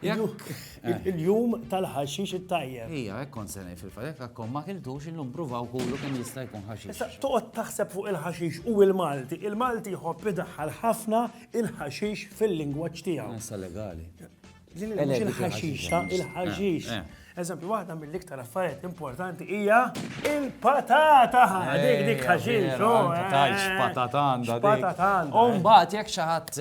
Il-jum tal-ħaxix it-tajjeb. Ija, hekk kont se ngħid fil-fatt, jekk akkom ma kiltux illum pruvaw kulu kemm jista' jkun ħaxix. Issa toqgħod taħseb fuq il-ħaxix u l-Malti. Il-Malti jħobb idaħħal ħafna il-ħaxix fil-lingwaġġ tiegħu. Issa legali. Din mhux il-ħaxix, il-ħaxix. Eżempju, waħda mill-iktar affarijiet importanti hija il-patata. Dik dik ħaxin, xo. Tajx eh. patata għandha. Patata għandha. U eh. mbagħad jekk xi ħadd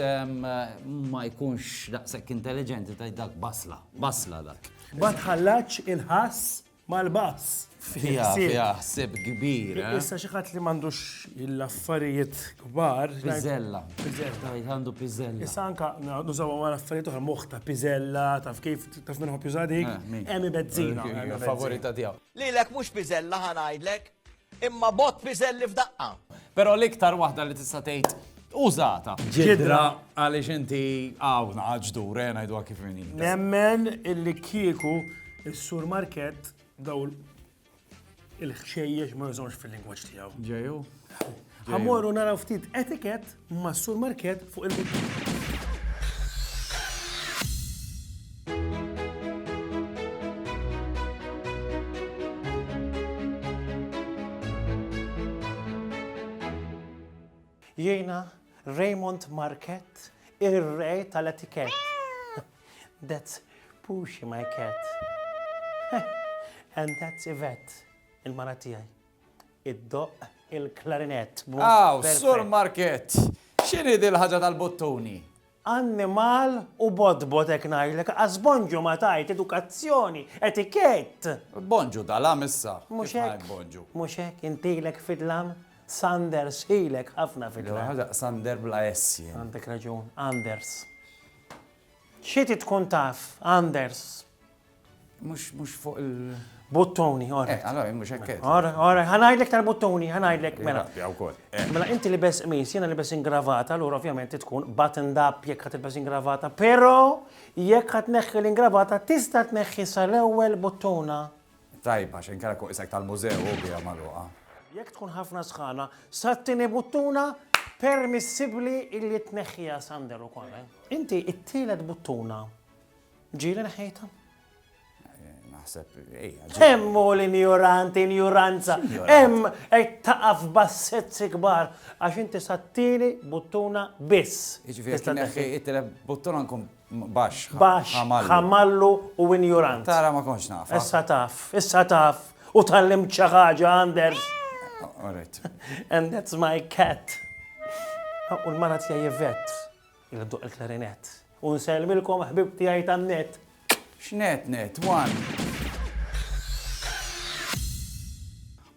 ma jkunx daqshekk intelligenti ta' dak basla, basla dak. Ma tħallax il-ħass mal-bass. Fija, fija, ħsib kbir. Eh? Issa xi ħadd li m'għandux l-affarijiet kbar. Pizzella. Pizzella. Għandu pizzella. Issa anka nużaw għal affarijiet oħra moħħ ta' pizzella, taf kif Taf minn ħobb juża dik? Eh, Emi Bezzina. Favorita tiegħu. Lilek mhux piżella ħa ngħidlek, imma bot piżelli f'daqqa. Però l-iktar waħda li tista' tgħid użata. Ġidra għaliex inti hawn ġdur, eh, ngħidu kif Nemmen illi kieku s sur Market daw il-ħxejjex ma jżomx fil-lingwaġġ tiegħu. Ġeju. Ħamorru naraw ftit etiket ma' sur market fuq il-bidju. Jiena Raymond Market, ir-re tal-etikett. That's Puxi my cat. And that's Yvette, il-mara tiegħi. Id-doq il-klarinett. Aw, Sur Market, x'inhi dil ħaġa tal-bottuni? annimal u bodbot ek najlek, għaz bonġu ma tajt edukazzjoni, etikett. Bonġu dal-am issa. Muxek. Bonġu. Muxek, intilek fidlam, Sanders, ilek ħafna fidlam. Sander bla essi. Għandek raġun, Anders. Xi trid tkun taf, Anders? Mhux mhux fuq il. Buttuni, ora. Eh, allora mhux hekk. Ora, ora, ħa ngħidlek tal-buttuni, ħa ngħidlek mela. Mela inti li bes qmis, jiena li bes ingravata, allura ovvjament tkun buttoned up jekk ħad tilbes ingravata, però jekk ħad neħħi l-ingravata tista' tneħħi sal-ewwel buttuna. Tajb, għax inkella kieku isek tal-mużew u biha magħluqa. Jekk tkun ħafna sħana, sat-tieni buttuna permissibbli illi tneħħiha Sander ukoll. Eh? Inti it-tielet buttuna ġieli neħħejtha? naħseb, ejja. Hemm u l-injurant, injuranza. Hemm qed taqaf bassezzi kbar għax inti sattini buttuna biss. Jiġifieri kien it-tele buttuna nkun Baxx, baxx, ħamallu. ħamallu u injurant. Tara ma kontx naf. Issa taf, issa taf. U tallimt xi ħaġa, Anders. All right. And that's my cat. U l-mara tiegħi Yvette, il duq il-klarinett. U nsellmilkom ħbib tiegħi tan-net. X'net net, one.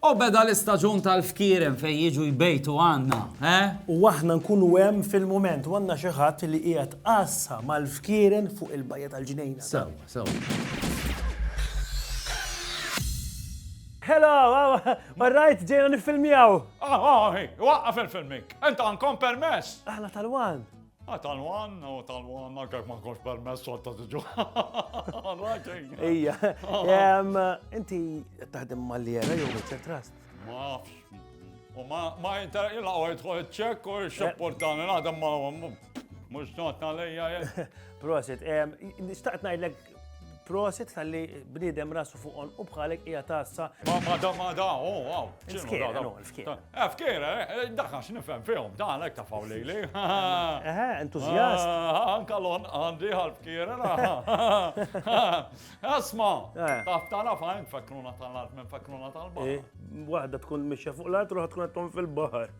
O beda l-istaġun tal-fkieren fejn jiġu jbejtu għandna, eh? U aħna nkunu hemm fil-mument u għandna xi ħadd li qiegħed għassa mal-fkieren fuq il-bajja tal-ġnejna. Sewwa, sewwa. Hello, ma rajt ġejna nifilmjaw. Ah, ah, waqqaf il-filmik. Enta għankom permess. Aħna tal-wan. Ah, tal-wan, u oh, tal-wan, anka ma konx permess xorta tiġu. Ija, inti taħdem mal-jera jew mit-trust? Mafx. U ma jinter illa u jitħol ċek u xepportani naħdem ma mux notna lejja. Prosit, xtaqt najdlek Prosit tal-li bnidem rasu fuq on u bħalek ija tassa. Ma ma da ma da, oh wow. Fkira, no, fkira. Eh, fkira, eh, eh, daħna x'nifhem fihom, dan hekk ta' fawlili. Eh, entuzjast. Ah, ah, anka lon għandi għal-fkira. Asma, eh. taf tara fajn fakruna tal-art minn fakruna tal-baħar. Waħda tkun mixja fuq l-art, ruħa tkun għattom fil-baħar.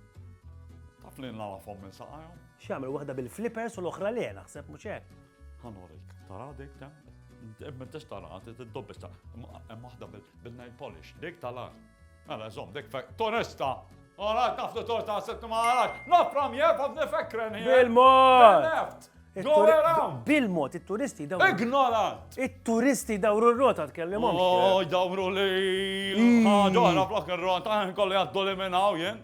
Taf li nlala fom minn saqajom. Xamil, waħda bil-flippers u l-oħra li naħseb muċek. Ħa norik, tara dik ta' imma tix tara, t-dobbis ta' hemm waħda bil-nail polish, dik tala. Għala, zom, dik fek, toresta! Għala, tafdu torta għasettu maħala, nafram jeb għaf nifekren. Bil-mod! Bil-mod, il-turisti dawru. Ignorant! Il-turisti dawru r-rota tkellem. Oh, dawru li. Għadora, flok il-rota, kolli għaddu li minnaw jen.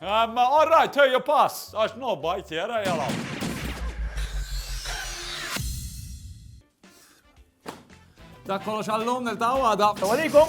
Um, all right, here you pass. Għax no bajt jera jela. Dak kollox għallum nil-taw għada. Tawalikum.